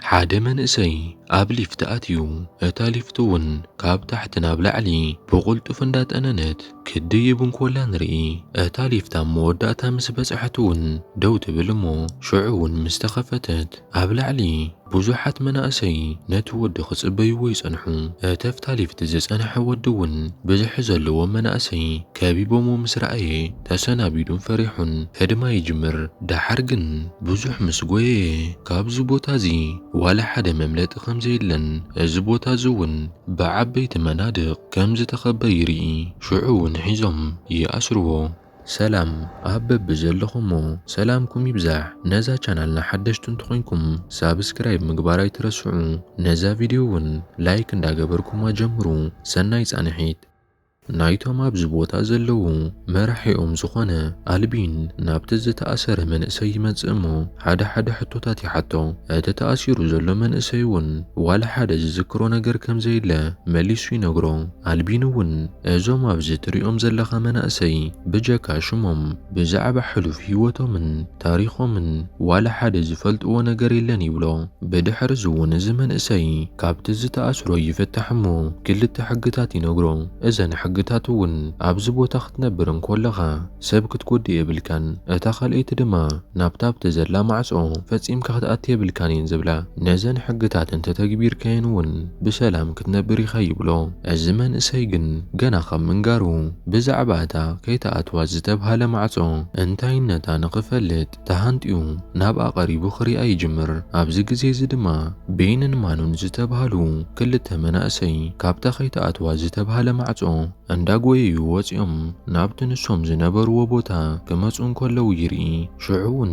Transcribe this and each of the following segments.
ሓደ መንእሰይ ኣብ ሊፍት ኣትዩ እታ ሊፍት እውን ካብ ታሕቲ ናብ ላዕሊ ብቕልጡፍ እንዳጠነነት ክትድይብ እንኮላ ንርኢ። እታ ሊፍት ኣብ መወዳእታ ምስ በጽሐት እውን ደው ትብል እሞ ሽዑ እውን ምስ ተኸፈተት ኣብ ላዕሊ ብዙሓት መናእሰይ ነቲ ወዲ ክጽበይዎ ይጸንሑ። እተፍታ ሊፍት ዝጸንሐ ወዲ እውን ብዝሒ ዘለዎም መናእሰይ ከቢቦሞ ምስ ረኣየ ተሰናቢዱን ፈሪሑን ህድማ ይጅምር። ደሓር ግን ብዙሕ ምስ ጎየየ ካብዚ ቦታ እዚ ዋላ ሓደ መምለጢ ከም ዘየለን እዚ ቦታ እዚ እውን ብዓበይቲ መናድቕ ከም ዝተኸበ ይርኢ። ሽዑ እውን ሒዞም ይኣስርዎ። ሰላም ኣብ በብዘለኹሞ ሰላምኩም ይብዛሕ ነዛ ቻናልና ሓደሽቲ እንተኾይንኩም ሳብስክራይብ ምግባር ኣይትረስዑ ነዛ ቪድዮ እውን ላይክ እንዳገበርኩማ ጀምሩ ሰናይ ፃንሒት። ናይቶም ኣብዚ ቦታ ዘለዉ መራሒኦም ዝኾነ ኣልቢን ናብቲ ዝተኣሰረ መንእሰይ ይመጽእ እሞ ሓደ ሓደ ሕቶታት ይሓቶ። እቲ ተኣሲሩ ዘሎ መንእሰይ እውን ዋላ ሓደ ዝዝክሮ ነገር ከም ዘየለ መሊሱ ይነግሮ። ኣልቢን እውን እዞም ኣብዚ ትሪኦም ዘለኻ መናእሰይ ብጀካ ሽሞም ብዛዕባ ሕሉፍ ህይወቶምን ታሪኾምን ዋላ ሓደ ዝፈልጥዎ ነገር የለን ይብሎ። ብድሕሪ እዚውን እዚ መንእሰይ ካብቲ ዝተኣስሮ ይፍታሕ እሞ ክልተ ሕግታት ይነግሮ። እዘን ሕግታት እውን ኣብዚ ቦታ ክትነብር እንኮለኻ ሰብ ክትጎድእ የብልካን እታ ካልኣይቲ ድማ ናብታ ኣብቲ ዘላ ማዕጾ ፈጺምካ ክትኣቲ የብልካን እየን ዝብላ። ነዘን ሕግታት እንተተግቢርካየን እውን ብሰላም ክትነብር ኢኻ ይብሎ። እዚ መንእሰይ ግን ገና ካብ ምንጋሩ ብዛዕባ እታ ከይትኣትዋ ዝተብሃለ ማዕጾ እንታይነታ ንኽፈልጥ ተሃንጥዩ ናብኣ ቀሪቡ ክሪኣ ይጅምር። ኣብዚ ግዜ እዚ ድማ ቤንን ማኑን ዝተብሃሉ ክልተ መናእሰይ ካብታ ከይትኣትዋ ዝተብሃለ ማዕጾ እንዳጎየዩ ወጺኦም ናብቲ ንሶም ዝነበርዎ ቦታ ክመጹ እንከለዉ ይርኢ። ሽዑ'ውን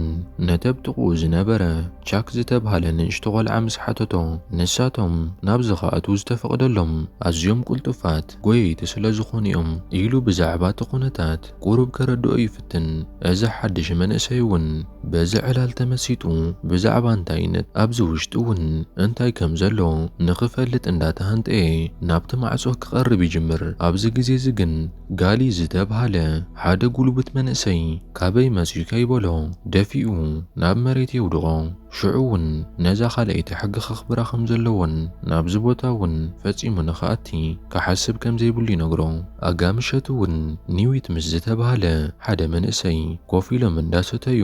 ነቲ ኣብ ጥቕኡ ዝነበረ ቻክ ዝተብሃለ ንእሽቶ ቆልዓ ምስ ሓተቶ፣ ንሳቶም ናብዚ ክኣትዉ ዝተፈቕደሎም ኣዝዮም ቅልጡፋት ጎየይቲ ስለ ዝዀኑ እዮም ኢሉ ብዛዕባ እቲ ኵነታት ቍሩብ ከረድኦ ይፍትን። እዚ ሓድሽ መንእሰይ እውን በዚ ዕላል ተመሲጡ ብዛዕባ እንታይነት ኣብዚ ውሽጢ እውን እንታይ ከም ዘሎ ንኽፈልጥ እንዳተሃንጠየ ናብቲ ማዕጾ ክቐርብ ይጅምር። ኣብዚ ግዜ እዚ ግን፣ ጋሊ ዝተብሃለ ሓደ ጉልቡት መንእሰይ ካበይ መጺኡ ከይበሎ ደፊኡ ናብ መሬት የውድቖ። ሽዑ ውን ነዛ ካልኣይቲ ሕጊ ከኽብራ ከም ዘለዎን ናብዚ ቦታ ውን ፈጺሙ ንኽኣቲ ክሓስብ ከም ዘይብሉ ይነግሮ። ኣጋ ምሸቱ ውን ኒዊት ምስ ዝተብሃለ ሓደ መንእሰይ ኮፍ ኢሎም እንዳሰተዩ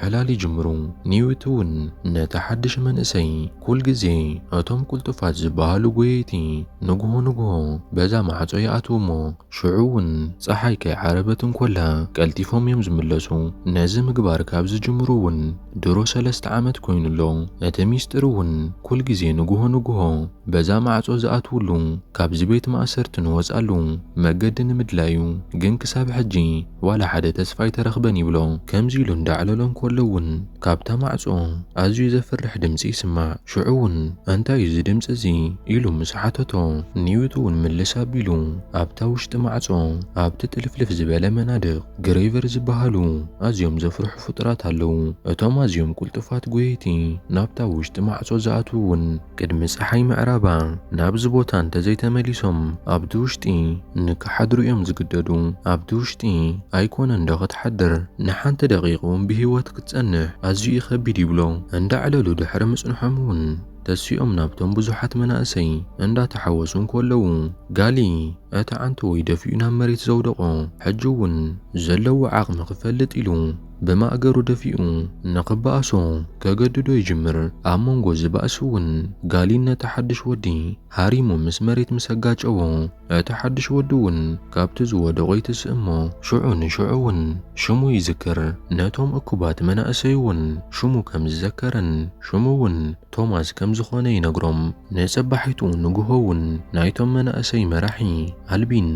ዕላል ይጅምሩ። ኒውት እውን ነቲ ሓድሽ መንእሰይ ኩል ግዜ እቶም ቅልጡፋት ዝበሃሉ ጎየይቲ ንግሆ ንግሆ በዛ ማዕጾ ይኣትዉ እሞ ሽዑ እውን ጸሓይ ከይዓረበት እንኮላ ቀልጢፎም እዮም ዝምለሱ። ነዚ ምግባር ካብ ዝጅምሩ እውን ድሮ ሰለስተ ዓመት ኮይኑ ኣሎ። እቲ ሚስጢር እውን ኩል ግዜ ንግሆ ንግሆ በዛ ማዕጾ ዝኣትውሉ ካብዚ ቤት ማእሰርቲ ንወጽኣሉ መገዲ ንምድላዩ ግን ክሳብ ሕጂ ዋላ ሓደ ተስፋ ኣይተረኽበን ይብሎ። ከምዚ ኢሉ እንዳዕለሎ እንከሎ እውን ካብታ ማዕጾ ኣዝዩ ዘፍርሕ ድምጺ ይስማዕ። ሽዑ እውን እንታይ እዩ እዚ ድምጺ እዚ ኢሉ ምስ ሓተቶ ኒውት እውን ምልስ ኣቢሉ ኣብታ ውሽጢ ማዕጾ ኣብቲ ጥልፍልፍ ዝበለ መናድቕ ግሬቨር ዝበሃሉ ኣዝዮም ዘፍርሑ ፍጡራት ኣለዉ። እቶም ኣዝዮም ቅልጡፋት ጎየይቲ ናብታ ውሽጢ ማዕጾ ዝኣትዉ እውን ቅድሚ ጸሓይ ምዕራባ ናብዚ ቦታ እንተዘይተመሊሶም ኣብቲ ውሽጢ ንክሓድሩ እዮም ዝግደዱ። ኣብቲ ውሽጢ ኣይኮነን ዶ ክትሓድር ንሓንቲ ደቂቅ እውን ብህይወት ክትጸንሕ ኣዝዩ እዩ ከቢድ ይብሎ። እንዳዕለሉ ድሕሪ ምጽንሖም እውን ተሲኦም ናብቶም ብዙሓት መናእሰይ እንዳተሓወሱ እንኮለዉ ጋሊ እቲ ዓንተወይ ደፊኡ ናብ መሬት ዘውደቆ ሕጂ እውን ዘለዎ ዓቅሚ ክፈልጥ ኢሉ ብማእገሩ ደፊኡ ንኽበኣሶ ከገድዶ ይጅምር። ኣብ መንጎ እዚ ባእሲ እውን ጋሊን ነቲ ሓድሽ ወዲ ሃሪሙ ምስ መሬት ምስ ኣጋጨዎ፣ እቲ ሓድሽ ወዲ እውን ካብቲ ዝወደቖ ይትስእ እሞ ሽዑ ንሽዑ እውን ሽሙ ይዝክር። ነቶም እኩባት መናእሰይ እውን ሽሙ ከም ዝዘከረን ሽሙ እውን ቶማስ ከም ዝዀነ ይነግሮም። ንጽባሒቱ ንግሆ እውን ናይቶም መናእሰይ መራሒ ኣልቢን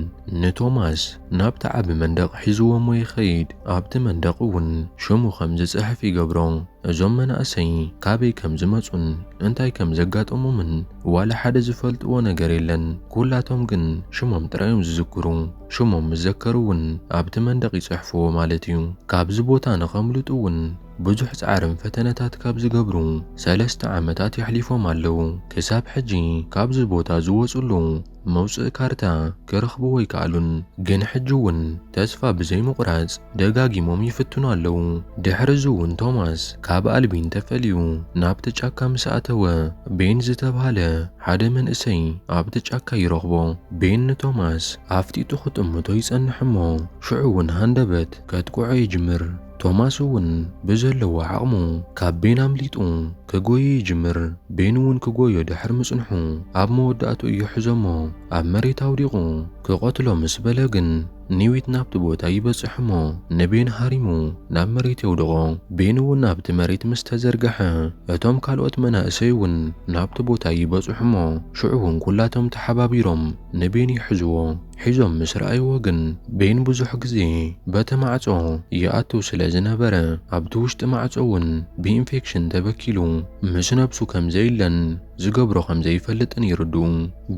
ንቶማስ፣ ናብቲ ዓቢ መንደቕ ሒዝዎሞ ይኸይድ፣ ኣብቲ መንደቕ እውን ሽሙ ከም ዝጽሕፍ ይገብሮ። እዞም መናእሰይ ካበይ ከም ዝመጹን እንታይ ከም ዘጋጠሞምን ዋላ ሓደ ዝፈልጥዎ ነገር የለን። ኩላቶም ግን ሽሞም ጥራይ እዮም ዝዝክሩ። ሽሞም ምስ ዘከሩ እውን ኣብቲ መንደቕ ይጽሕፍዎ ማለት እዩ። ካብዚ ቦታ ንኸምልጡ እውን ብዙሕ ጻዕርን ፈተነታት ካብ ዝገብሩ ሰለስተ ዓመታት የሕሊፎም ኣለዉ። ክሳብ ሕጂ ካብዚ ቦታ ዝወጽሉ መውጽኢ ካርታ ክረኽብዎ ኣይከኣሉን፣ ግን ሕጂ'ውን ተስፋ ብዘይምቝራጽ ደጋጊሞም ይፍትኑ ኣለዉ። ድሕርዚ'ውን ቶማስ ካብ ኣልቢን ተፈልዩ ናብቲ ጫካ ምስ ኣተወ፣ ቤን ዝተባህለ ሓደ መንእሰይ ኣብቲ ጫካ ይረኽቦ። ቤን ንቶማስ ኣፍጢጡ ክጥምቶ ይጸንሕ'ሞ ሽዑ'ውን ሃንደበት ከጥቅዖ ይጅምር። ቶማስ እውን ብዘለዎ ዓቕሙ ካብ ቤን ኣምሊጡ ክጎዩ ይጅምር። ቤን እውን ክጎዮ ድሕሪ ምጽንሑ ኣብ መወዳእትኡ እዩ ሕዞሞ ኣብ መሬት ኣውዲቑ ክቐትሎ ምስ በለ ግን ኒዊት ናብቲ ቦታ ይበጽሕ እሞ ንቤን ሃሪሙ ናብ መሬት የውድቖ። ቤን እውን ኣብቲ መሬት ምስ ተዘርገሐ እቶም ካልኦት መናእሰይ እውን ናብቲ ቦታ ይበጽሑ እሞ ሽዑ እውን ኩላቶም ተሓባቢሮም ንቤን ይሕዝዎ። ሒዞም ምስ ረኣይዎ ግን ቤን ብዙሕ ግዜ በቲ ማዕጾ ይኣቱ ስለ ዝነበረ ኣብቲ ውሽጢ ማዕጾ እውን ብኢንፌክሽን ተበኪሉ ምስ ነብሱ ከም ዘይለን ዝገብሮ ከም ዘይፈልጥን ይርድኡ።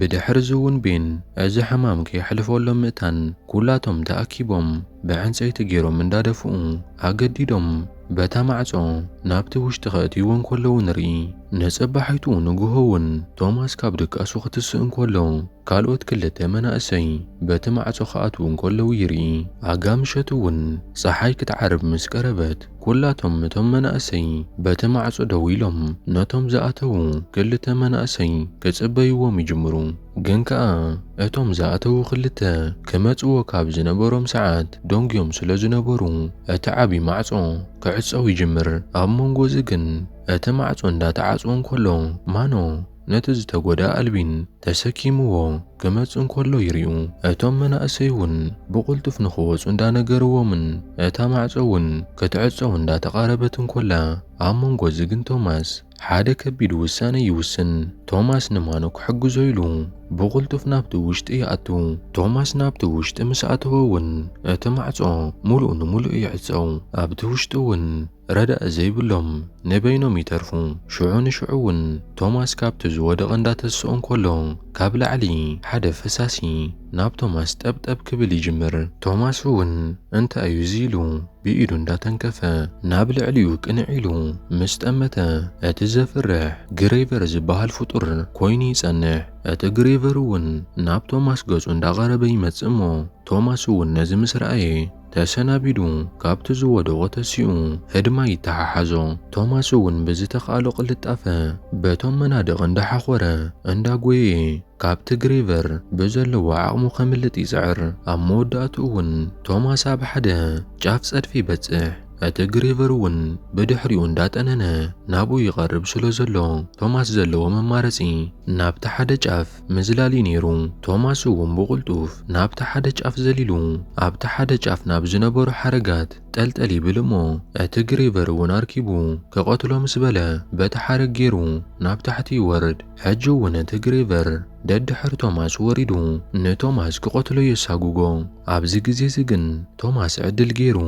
ብድሕሪ እዚ እውን ቤን እዚ ሕማም ከየሕልፈሎም ምእታን ኩላቶም ተኣኪቦም ብዕንጸይቲ ገይሮም እንዳደፍኡ ኣገዲዶም በታ ማዕጾ ናብቲ ውሽጢ ከእትይዎ እንከለዉ ንርኢ። ንጽባሒቱ ንግሆ እውን ቶማስ ካብ ድቃሱ ክትስእ እንከሎ ካልኦት ክልተ መናእሰይ በቲ ማዕጾ ክኣትዉ እንከለዉ ይርኢ። ኣጋ ምሸት እውን ጸሓይ ክትዓርብ ምስ ቀረበት፣ ኵላቶም እቶም መናእሰይ በቲ ማዕጾ ደው ኢሎም ነቶም ዝኣተዉ ክልተ መናእሰይ ክጽበዩዎም ይጅምሩ። ግን ከኣ እቶም ዝኣተዉ ክልተ ክመጽዎ ካብ ዝነበሮም ሰዓት ደንጒዮም ስለ ዝነበሩ፣ እቲ ዓቢ ማዕጾ ክዕጸው ይጅምር። ኣብ መንጎ እዚ ግን እቲ ማዕጾ እንዳተዓጽወ እንከሎ ማኖ ነቲ ዝተጎድኣ ኣልቢን ተሰኪምዎ ክመጽእ እንከሎ ይሪኡ። እቶም መናእሰይ እውን ብቕልጡፍ ንኽወጹ እንዳነገርዎምን እታ ማዕጾ እውን ክትዕጸው እንዳተቓረበት እንከላ ኣብ መንጎ እዚ ግን ቶማስ ሓደ ከቢድ ውሳነ ይውስን። ቶማስ ንማኑ ክሕግዞ ኢሉ ብቕልጡፍ ናብቲ ውሽጢ ይኣቱ። ቶማስ ናብቲ ውሽጢ ምስ ኣተወ እውን እቲ ማዕጾ ምሉእ ንምሉእ ይዕጸው። ኣብቲ ውሽጢ እውን ረዳኢ ዘይብሎም ንበይኖም ይተርፉ። ሽዑ ንሽዑ እውን ቶማስ ካብቲ ዝወደቐ እንዳተስኦ እንከሎ ካብ ላዕሊ ሓደ ፈሳሲ ናብ ቶማስ ጠብጠብ ክብል ይጅምር። ቶማስ እውን እንታይ እዩ እዚ ኢሉ ብኢዱ እንዳተንከፈ ናብ ልዕሊኡ ቅንዕ ኢሉ ምስ ጠመተ እቲ ዘፍርሕ ግሬቨር ዝብሃል ፍጡር ኮይኑ ይጸንሕ። እቲ ግሬቨር እውን ናብ ቶማስ ገጹ እንዳቐረበ ይመጽእ እሞ ቶማስ እውን ነዚ ምስ ረኣየ፣ ተሰናቢዱ ካብቲ ዝወደቖ ተሲኡ ህድማ ይተሓሓዞ። ቶማስ እውን ብዝተኽኣሎ ቅልጣፈ በቶም መናድቕ እንዳሓኾረ እንዳጎየየ ካብቲ ግሬቨር ብዘለዎ ዓቕሙ ከምልጥ ይጽዕር። ኣብ መወዳእትኡ እውን ቶማስ ኣብ ሓደ ጫፍ ጸድፊ ይበጽሕ። እቲ ግሬቨር እውን ብድሕሪኡ እንዳጠነነ ናብኡ ይቐርብ ስለዘሎ ቶማስ ዘለዎ መማረጺ ናብቲ ሓደ ጫፍ ምዝላል'ዩ ነይሩ። ቶማስ'ውን ብቕልጡፍ ናብቲ ሓደ ጫፍ ዘሊሉ፣ ኣብቲ ሓደ ጫፍ ናብ ዝነበሩ ሓረጋት ጠልጠል ይብል እሞ፣ እቲ ግሬቨር'ውን ኣርኪቡ ክቐትሎ ምስ በለ፣ በቲ ሓረግ ገይሩ ናብ ታሕቲ ይወርድ። ሕጂ'ውን እቲ ግሬቨር ደድሕሪ ቶማስ ወሪዱ ንቶማስ ክቐትሎ የሳጉጎ። ኣብዚ ግዜ'ዚ ግን ቶማስ ዕድል ገይሩ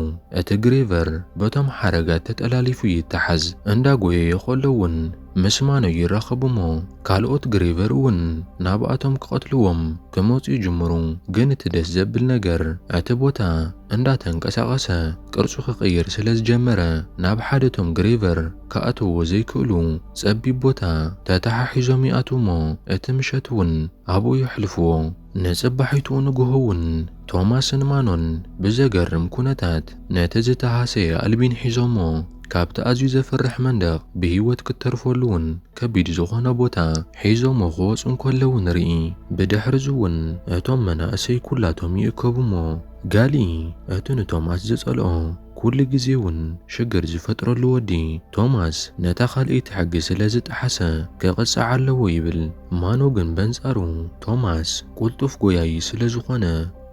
እቲ ግሬቨር በቶም ሓረጋት ተጠላሊፉ ይተሓዝ። እንዳጎየየ ከሎ'ውን ምስ ማኖ ይራኸቡሞ ካልኦት ግሬቨር እውን ናብኣቶም ክቐትልዎም ክመጹ ይጅምሩ ግን እቲ ደስ ዘብል ነገር እቲ ቦታ እንዳ ተንቀሳቐሰ ቅርጹ ክቕይር ስለ ዝጀመረ ናብ ሓደ እቶም ግሬቨር ክኣትውዎ ዘይክእሉ ጸቢብ ቦታ ተታሓሒዞም ይኣትዉሞ እቲ ምሸት እውን ኣብኡ የሕልፍዎ። ንጽባሒቱ ንግሆ እውን ቶማስን ማኖን ብዘገርም ኩነታት ነቲ ዝተሃሰየ ኣልቢን ሒዞሞ ካብቲ ኣዝዩ ዘፍርሕ መንደቕ ብህይወት ክትተርፈሉ እውን ከቢድ ዝኾነ ቦታ ሒዞሞ ክወጹ እንከለዉ ንርኢ። ብድሕርዚ እውን እቶም መናእሰይ ኩላቶም ይእከቡ እሞ ጋሊ እቲ ንቶማስ ዝጸልኦ ኩሉ ግዜ እውን ሽግር ዝፈጥረሉ ወዲ ቶማስ ነታ ካልኣይቲ ሕጊ ስለ ዝጠሓሰ ክቕጻዕ ኣለዎ ይብል። ማኖ ግን በንጻሩ ቶማስ ቁልጡፍ ጎያዪ ስለ ዝኾነ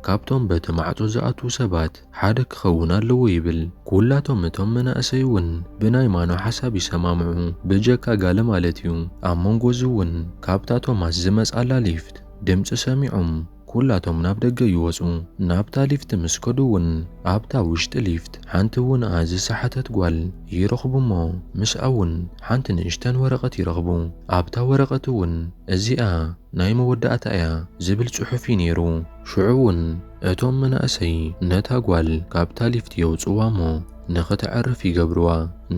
ካብቶም በቲ ማዕጾ ዝኣትዉ ሰባት ሓደ ክኸውን ኣለዎ ይብል። ኩላቶም እቶም መናእሰይ እውን ብናይ ማኖ ሓሳብ ይሰማምዑ ብጀካ ጋለ ማለት እዩ። ኣብ መንጎ እዚ እውን ካብታ ቶማስ ዝመጽኣላ ሊፍት ድምጺ ሰሚዖም፣ ኩላቶም ናብ ደገ ይወጹ። ናብታ ሊፍት ምስ ከዱ'ውን ኣብታ ውሽጢ ሊፍት ሓንቲ ውንኣ ዝሰሓተት ጓል ይረኽቡ'ሞ ምስኣ'ውን ሓንቲ ንእሽተን ወረቐት ይረኽቡ። ኣብታ ወረቐት'ውን እዚኣ ናይ መወዳእታ'ያ ዝብል ጽሑፍ'ዩ ነይሩ። ሽዑ'ውን እቶም መናእሰይ ነታ ጓል ካብታ ሊፍት የውጽዋ'ሞ ንኽተዕርፍ ይገብርዋ።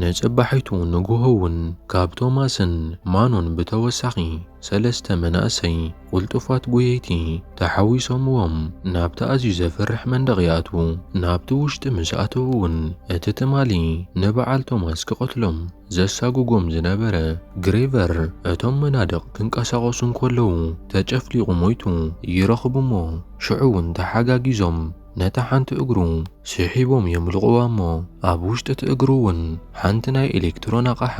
ንጽባሒቱ ንግሆ'ውን ካብ ቶማስን ማኖን ብተወሳኺ ሰለስተ መናእሰይ፣ ቁልጡፋት ጎየይቲ ተሓዊሶምዎም ናብቲ ኣዝዩ ዘፍርሕ መንደቕ ይኣትዉ። ናብቲ ውሽጢ ምስ ኣተዉ እውን እቲ ትማሊ ንበዓል ቶማስ ክቐትሎም ዘሳጉጎም ዝነበረ ግሬቨር እቶም መናድቕ ክንቀሳቐሱ እንከለዉ ተጨፍሊቑ ሞይቱ ይረኽቡ'ሞ ሽዑ እውን ተሓጋጊዞም ነታ ሓንቲ እግሩ ስሒቦም የምልቑዋ እሞ ኣብ ውሽጢ እቲ እግሩ እውን ሓንቲ ናይ ኤሌክትሮን ኣቓሓ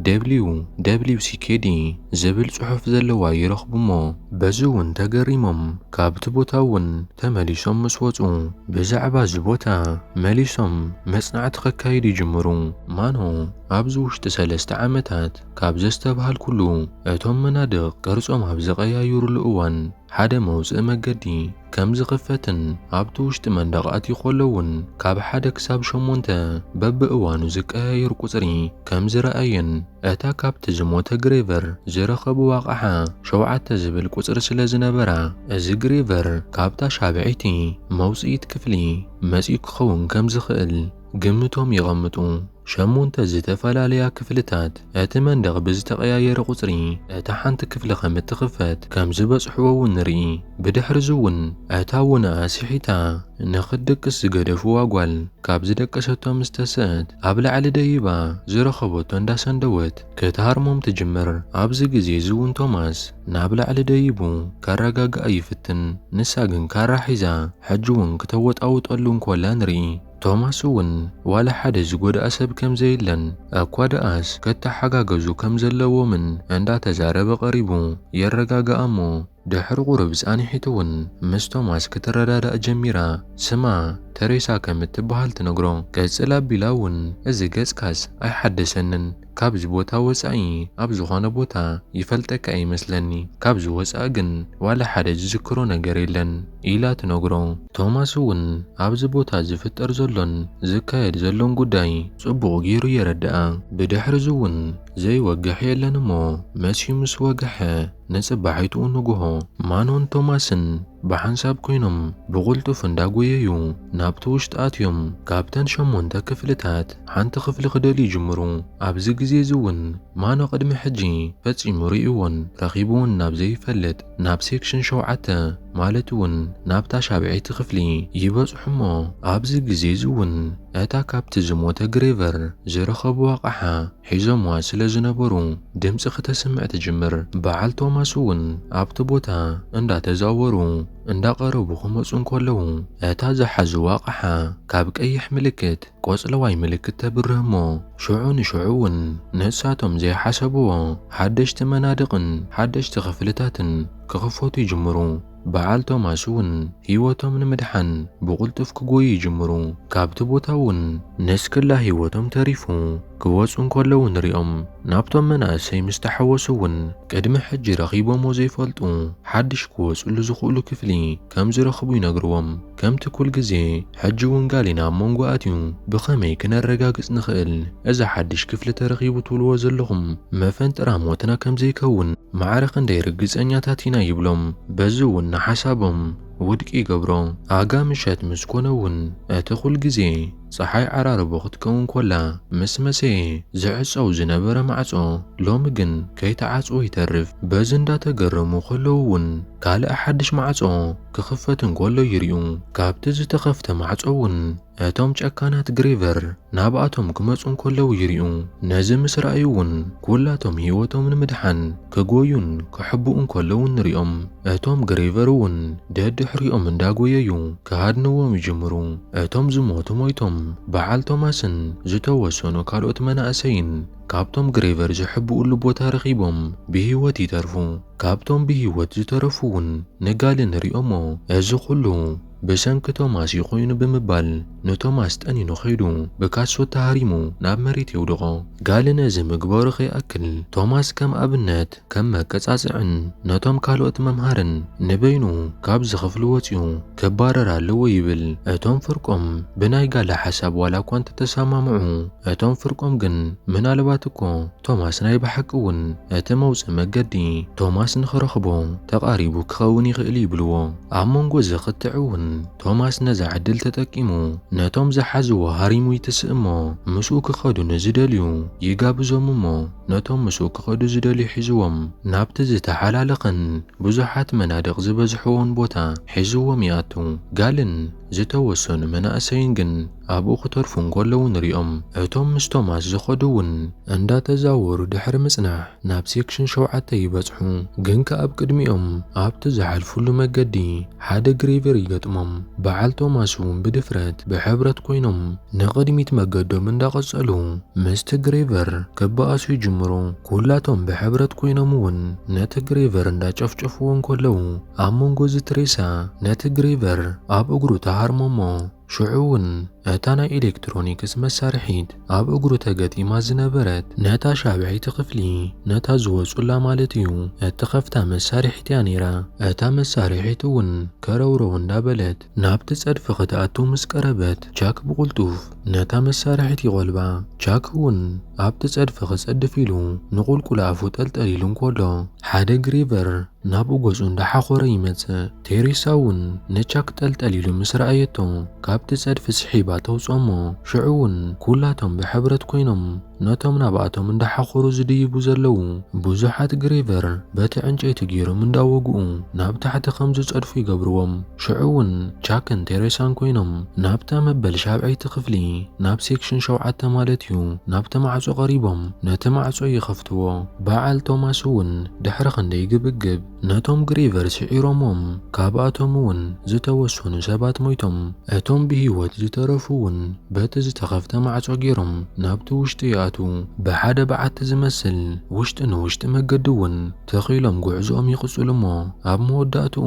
ደብሊው ደብሊው ሲኬዲ ዝብል ጽሑፍ ዘለዋ ይረኽቡ እሞ በዚ እውን ተገሪሞም ካብቲ ቦታ እውን ተመሊሶም ምስ ወጹ ብዛዕባ እዚ ቦታ መሊሶም መጽናዕቲ ከካይዱ ይጅምሩ። ማኖ ኣብዚ ውሽጢ ሰለስተ ዓመታት ካብ ዘስተብሃልኩሉ እቶም መናድቕ ቅርጾም ኣብ ዝቐያይሩሉ እዋን ሓደ መውጽኢ መገዲ ከም ዝኽፈትን ኣብቲ ውሽጢ መንደቕ ኣትዩ ከሎ እውን ካብ ሓደ ክሳብ ሸሞንተ በብእዋኑ ዝቀያየር ቁጽሪ ከም ዝረኣየን እታ ካብቲ ዝሞተ ግሬቨር ዝረኸብዋ ኣቕሓ ሸውዓተ ዝብል ቁጽሪ ስለ ዝነበራ እዚ ግሬቨር ካብታ ሻብዐይቲ መውጽኢት ክፍሊ መጺኡ ክኸውን ከም ዝኽእል ግምቶም የቐምጡ። ሸሞንተ ዝተፈላለያ ክፍልታት እቲ መንደቕ ብዝተቐያየረ ቁጽሪ እታ ሓንቲ ክፍሊ ከም እትኽፈት ከም ዝበጽሕዎ እውን ንርኢ። ብድሕርዚ እውን እታ ውነ ኣስሒታ ንኽትድቅስ ዝገደፍዋ ጓል ካብ ዝደቀሰቶ ምስ ተሰእት ኣብ ላዕሊ ደይባ ዝረኸበቶ እንዳሰንደወት ክትሃርሞም ትጅምር። ኣብዚ ግዜ እዚ እውን ቶማስ ናብ ላዕሊ ደይቡ ከረጋግኣ ይፍትን። ንሳ ግን ካራ ሒዛ ሕጂ እውን ክተወጣውጠሉ እንኮላ ንርኢ። ቶማስ እውን ዋላ ሓደ ዝጎድኣ ሰብ ከም ዘየለን እኳ ደኣስ ክተሓጋገዙ ከም ዘለዎምን እንዳተዛረበ ቀሪቡ የረጋግኣ እሞ ድሕሪ ቁሩብ ጻንሒት እውን ምስ ቶማስ ክትረዳዳእ ጀሚራ ስማ ተሬሳ ከም እትብሃል ትነግሮ ቀጽል ኣቢላ እውን እዚ ገጽካስ ኣይሓደሰንን ካብዚ ቦታ ወጻኢ ኣብ ዝኾነ ቦታ ይፈልጠካ እየ ይመስለኒ፣ ካብዚ ወጻኢ ግን ዋላ ሓደ ዝዝክሮ ነገር የለን ኢላ ትነግሮ። ቶማስ እውን ኣብዚ ቦታ ዝፍጠር ዘሎን ዝካየድ ዘሎን ጉዳይ ጽቡቕ ገይሩ የረድኣ። ብድሕርዚ እውን ዘይወግሕ የለን እሞ መሲዩ ምስ ወግሐ ንጽባሒትኡ ንግሆ ማኖን ቶማስን ብሓንሳብ ኮይኖም ብቕልጡፍ እንዳጎየዩ ናብቲ ውሽጢ ኣትዮም ካብተን ሸሞንተ ክፍልታት ሓንቲ ክፍሊ ክደልዩ ይጅምሩ። ኣብዚ ግዜ እዚ እውን ማኖ ቅድሚ ሕጂ ፈጺሙ ርእዩዎን ረኺቡዎን ናብ ዘይፈልጥ ናብ ሴክሽን ሸውዓተ ማለት እውን ናብታ ሻብዐይቲ ክፍሊ ይበጽሑ እሞ ኣብዚ ግዜ እዚ እውን እታ ካብቲ ዝሞተ ግሬቨር ዝረኸቡዋ ኣቕሓ ሒዞምዋ ስለ ዝነበሩ ድምጺ ክተስምዕ ትጅምር። በዓል ቶማስ እውን ኣብቲ ቦታ እንዳተዛወሩ እንዳቐረቡ ክመጹ እንከለዉ፣ እታ ዝሓዙዋ ኣቕሓ ካብ ቀይሕ ምልክት ቆጽለዋይ ምልክት ተብርህ እሞ፣ ሽዑ ንሽዑ እውን ንሳቶም ዘይሓሰቡዎ ሓደሽቲ መናድቕን ሓደሽቲ ክፍልታትን ክኽፈቱ ይጅምሩ። በዓል ቶማስ እውን ህይወቶም ንምድሓን ብቕልጡፍ ክጎዩ ይጅምሩ፣ ካብቲ ቦታ እውን ንስክላ ህይወቶም ተሪፉ። ክወጹ እንከለዉ ንሪኦም። ናብቶም መናእሰይ ምስ ተሓወሱ እውን ቅድሚ ሕጂ ረኺቦምዎ ዘይፈልጡ ሓድሽ ክወጽሉ ዝኽእሉ ክፍሊ ከም ዝረኽቡ ይነግርዎም። ከምቲ ኩል ግዜ ሕጂ እውን ጋሊና ኣብ መንጎ ኣትዩ ብኸመይ ክነረጋግጽ ንኽእል እዚ ሓድሽ ክፍሊ ተረኺቡ ትብልዎ ዘለኹም መፈንጠራ ሞትና ከም ዘይከውን ማዕረ ክንደይ ርግጸኛታት ኢና ይብሎም። በዚ እውን ንሓሳቦም ውድቂ ይገብሮ። ኣጋ ምሸት ምስ ኮነ እውን እቲ ኩል ግዜ። ጸሓይ ዓራርቦ ክትከውን ኮላ ምስ መሰየ ዝዕጸው ዝነበረ ማዕጾ ሎሚ ግን ከይተዓጽወ ይተርፍ። በዚ እንዳተገረሙ ከለዉ ውን ካልእ ሓድሽ ማዕጾ ክኽፈት እንከሎ ይሪኡ። ካብቲ ዝተኸፍተ ማዕጾ ውን እቶም ጨካናት ግሬቨር ናብኣቶም ክመጹ እንከለዉ ይሪኡ። ነዚ ምስ ረኣዩ ውን ኩላቶም ህይወቶም ንምድሓን ክጎዩን ክሕብኡን ከለዉ እንሪኦም። እቶም ግሬቨር እውን ደድሕሪኦም እንዳጎየዩ ክሃድንዎም ይጅምሩ። እቶም ዝሞቱ ሞይቶም በዓል ቶማስን ዝተወሰኑ ካልኦት መናእሰይን ካብቶም ግሬቨር ዝሕብኡሉ ቦታ ረኺቦም ብሂወት ይተርፉ። ካብቶም ብሂወት ዝተረፉ እውን ንጋል እንሪኦሞ። እዚ ኩሉ ብሰንኪ ቶማስ እዩ ኮይኑ ብምባል ንቶማስ ጠኒኑ ከይዱ ብካሶት ተሃሪሙ ናብ መሬት የውድቖ። ጋል ነዚ ምግባሩ ከይኣክል ቶማስ ከም ኣብነት ከም መቀጻጽዕን ነቶም ካልኦት መምሃርን ንበይኑ ካብዚ ክፍሊ ወጺኡ ክባረር ኣለዎ ይብል። እቶም ፍርቆም ብናይ ጋል ሓሳብ ዋላኳ እንተተሰማምዑ እቶም ፍርቆም ግን ምናልባት እኮ ቶማስ ናይ ብሓቂ እውን እቲ መውጽኢ መገዲ ቶማስ ንኽረኽቦ ተቓሪቡ ክኸውን ይኽእል ይብልዎ። ኣብ መንጎ እዚ ክትዕ እውን ቶማስ ነዛ ዕድል ተጠቂሙ ነቶም ዝሓዝዎ ሃሪሙ ይትስእ እሞ ምስኡ ክኸዱ ንዝደልዩ ይጋብዞም እሞ ነቶም ምስኡ ክኸዱ ዝደልዩ ሒዝዎም ናብቲ ዝተሓላለኸን ብዙሓት መናድቕ ዝበዝሕዎን ቦታ ሒዝዎም ይኣቱ። ጋልን ዝተወሰኑ መናእሰይን ግን ኣብኡ ክተርፉ እንከለዉ ንሪኦም። እቶም ምስ ቶማስ ዝኸዱ እውን እንዳተዛወሩ ድሕሪ ምጽናሕ ናብ ሴክሽን ሸውዓተ ይበጽሑ። ግን ከኣ ኣብ ቅድሚኦም ኣብቲ ዝሓልፍሉ መገዲ ሓደ ግሬቨር ይገጥሞም። በዓል ቶማስ እውን ብድፍረት ብሕብረት ኮይኖም ንቕድሚት መገዶም እንዳቐጸሉ ምስቲ ግሬቨር ክበኣሱ ይጅምሩ። ኩላቶም ብሕብረት ኮይኖም እውን ነቲ ግሬቨር እንዳጨፍጨፍዎ እንከለዉ ኣብ መንጎ እዚ ትሬሳ ነቲ ግሬቨር ኣብ እግሩ ትሃርሞ እሞ ሽዑ እውን እታ ናይ ኤሌክትሮኒክስ መሳርሒት ኣብ እግሩ ተገጢማ ዝነበረት ነታ ሻብዐይቲ ክፍሊ ነታ ዝወጹላ ማለት እዩ እትኸፍታ መሳርሒት እያ ነይራ። እታ መሳርሒት እውን ከረውረው እንዳበለት ናብቲ ጸድፊ ክትኣቱ ምስ ቀረበት ቻክ ብቕልጡፍ ነታ መሳርሒት ይቖልባ። ቻክ እውን ኣብቲ ጸድፊ ክጸድፍ ኢሉ ንቑልቁል ኣፉ ጠልጠል ኢሉ እንከሎ ሓደ ግሪቨር ናብኡ ገጹ እንዳሓኾረ ይመጽእ። ቴሬሳ እውን ንቻክ ጠልጠል ኢሉ ምስ ረኣየቶ ካብቲ ጸድፊ ስሒባ ተውጽኦ እሞ ሽዑ እውን ኩላቶም ብሕብረት ኮይኖም ነቶም ናብኣቶም እንዳሓኾሩ ዝድይቡ ዘለዉ ብዙሓት ግሬቨር በቲ ዕንጨይቲ ጌሮም እንዳወግኡ ናብ ታሕቲ ከም ዝጸድፉ ይገብርዎም። ሽዑ እውን ቻክን ቴሬሳን ኮይኖም ናብታ መበል ሻብዐይቲ ክፍሊ ናብ ሴክሽን ሸውዓተ ማለት እዩ ናብቲ ማዕጾ ቀሪቦም ነቲ ማዕጾ ይኸፍትዎ። በዓል ቶማስ እውን ድሕሪ ክንደይ ግብግብ ነቶም ግሪቨር ስዒሮሞም፣ ካብኣቶም'ውን ዝተወሰኑ ሰባት ሞይቶም፣ እቶም ብህይወት ዝተረፉ'ውን በቲ ዝተኸፍተ ማዕጾ ገይሮም ናብቲ ውሽጢ ይኣትዉ። ብሓደ በዓቲ ዝመስል ውሽጢ ንውሽጢ መገዲ'ውን ተኺሎም ጉዕዞኦም ይቕጽሉ'ሞ ኣብ መወዳእትኡ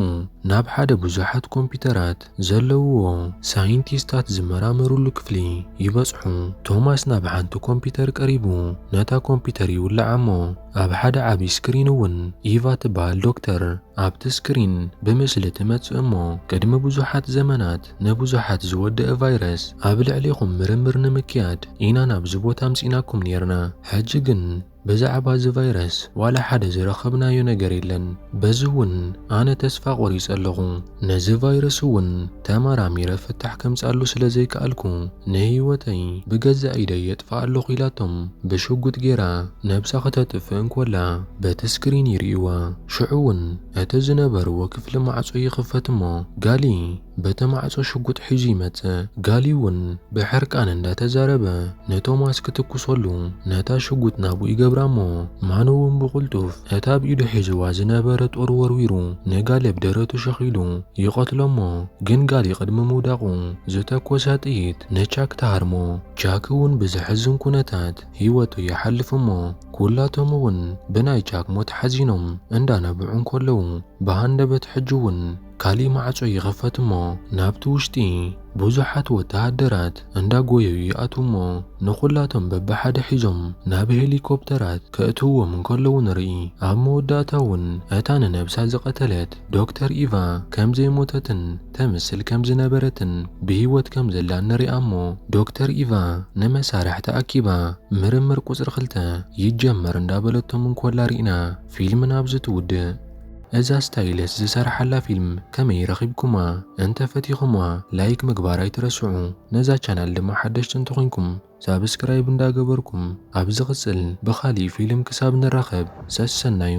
ናብ ሓደ ብዙሓት ኮምፒዩተራት ዘለውዎ ሳይንቲስታት ዝመራመሩሉ ክፍሊ ይበጽሑ። ቶማስ ናብ ሓንቲ ኮምፒዩተር ቀሪቡ ነታ ኮምፒዩተር ይውልዓ'ሞ፣ ኣብ ሓደ ዓቢ ስክሪን እውን ኢቫ ትበሃል ዶክተር ኣብቲ ስክሪን ብምስሊ ትመጽእ እሞ ቅድሚ ብዙሓት ዘመናት ንብዙሓት ዝወደአ ቫይረስ ኣብ ልዕሊኹም ምርምር ንምክያድ ኢና ናብዚ ቦታ ኣምጺእናኩም ኔርና ሕጂ ግን ብዛዕባ እዚ ቫይረስ ዋላ ሓደ ዝረኸብናዮ ነገር የለን በዚ እውን ኣነ ተስፋ ቆሪጸ ኣለኹ ነዚ ቫይረስ እውን ተመራሚረ ፍታሕ ከምጽኣሉ ስለ ዘይከኣልኩ ንህይወተይ ብገዛእ ኢደይ የጥፍኣ ኣለኹ ኢላቶም ብሽጉጥ ጌራ ነብሳ ክተጥፍእ እንኮላ በቲ ስክሪን ይርእይዋ። ሽዑ እውን እቲ ዝነበርዎ ክፍሊ ማዕጾ ይኽፈት እሞ ጋሊ በቲ ማዕጾ ሽጉጥ ሒዙ ይመጽእ። ጋሊ እውን ብሕርቃን እንዳተዛረበ ንቶማስ ክትኩሰሉ ነታ ሽጉጥ ናብኡ ይገብራ እሞ ማኑ እውን ብቕልጡፍ ነታ ኣብ ኢዱ ሒዝዋ ዝነበረ ጦር ወርዊሩ ንጋል ኣብ ደረቱ ሸኺሉ ይቐትሎ'ሞ፣ ግን ጋሊ ቅድሚ ምውዳቑ ዝተኮሳ ጥይት ንቻክ ትሃርሞ። ቻክ'ውን ብዘሕዝን ኩነታት ህይወቱ ይሓልፍ'ሞ፣ ኩላቶም'ውን ብናይ ቻክ ሞት ሓዚኖም እንዳነብዑ እንከለዉ ብሃንደበት ሕጂ'ውን ካሊእ ማዕጾ ይኽፈት እሞ ናብቲ ውሽጢ ብዙሓት ወተሃደራት እንዳጎየዩ ይኣትዉ እሞ ንኹላቶም በብሓደ ሒዞም ናብ ሄሊኮፕተራት ከእትውዎም እንከለዉ ንርኢ። ኣብ መወዳእታ እውን እታ ንነብሳ ዝቐተለት ዶክተር ኢቫ ከም ዘይሞተትን ተምስል ከም ዝነበረትን ብህይወት ከም ዘላን ንሪኣ እሞ ዶክተር ኢቫ ንመሳርሕታ ኣኪባ ምርምር ቁጽሪ ክልተ ይጀመር እንዳበለቶም እንኮላ ሪእና ፊልምና ኣብዚ ትውድእ። እዛ ስታይልስ ዝሰራሓላ ፊልም ከመይ ረኺብኩማ እንተ ፈቲኹማ ላይክ ምግባር ኣይትረስዑ ነዛ ቻናል ድማ ሓደሽቲ እንተኾይንኩም ሳብስክራይብ እንዳ ገበርኩም ኣብ ዝቕጽል ብኻሊእ ፊልም ክሳብ ንራኸብ ሰሰናዩ።